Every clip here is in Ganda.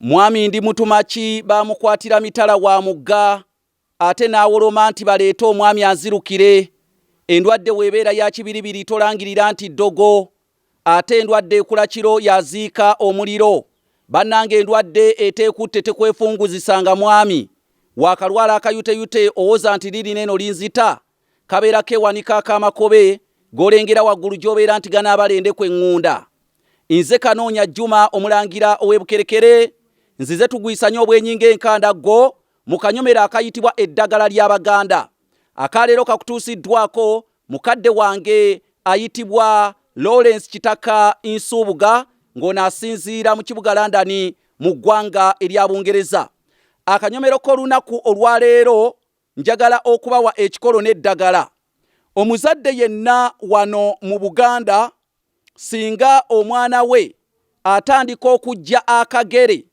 Mwami ndi mutumaki baamukwatira mitala wa mugga ate n'awoloma nti baleete omwami anzirukire. Endwadde w'ebeera ya kibiribiri tolangirira nti ddogo ate endwadde ekula kiro yaziika omuliro. Bannange endwadde eteekutte tekwefunguzisa nga mwami. Waakalwala akayuteyute owoza nti liri n'eno linzita kabeera kewanika ak'amakobe golengera waggulu gy'obeera nti ganaabala endeku eŋŋunda. Nze Kanoonya Juma omulangira ow'e Bukerekere nzize tugwisanye obwenyi ng'enkanda gwo mu kanyomero akayitibwa Eddagala ly'Abaganda. Aka leero kakutuusiddwaako mukadde wange ayitibwa Lawrence Kitaka Nsuubuga ng'ono asinziira mu kibuga London mu ggwanga erya Bungereza. Akanyomero k'olunaku olwaleero Njagala okubawa ekikolo n'eddagala. Omuzadde yenna wano mu Buganda singa omwana we atandika okujja akagere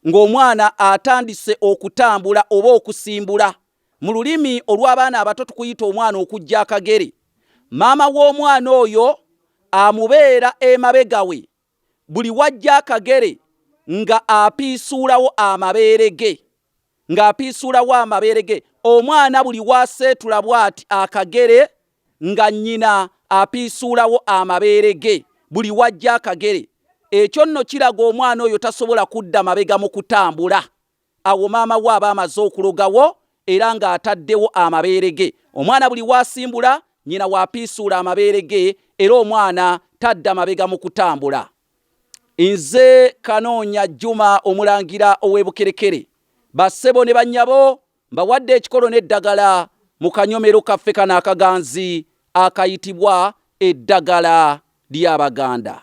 ng'omwana atandise okutambula oba okusimbula, mu lulimi olw'abaana abato tukuyita omwana okujja akagere, maama w'omwana oyo amubeera emabega we buli wajja akagere nga apiisuulawo amabeere ge ng'apiisuulawo amabeere ge omwana buli waaseetula bw'ati akagere nga nnyina apiisuulawo amabeere ge buli wajja akagere ekyo nno kiraga omwana oyo tasobola kudda mabega mu kutambula Awo maama we aba amaze okulogawo era ng'ataddewo amabeere ge. Omwana buli w'asimbula, nnyina w'apiisuula amabeere ge era omwana tadda mabega mu kutambula. Nze Kanoonya Juma Omulangira ow'e Bukerekere. Bassebo ne bannyabo mbawadde ekikolo n'eddagala mu kanyomero kaffe kano akaganzi akayitibwa eddagala ly'Abaganda.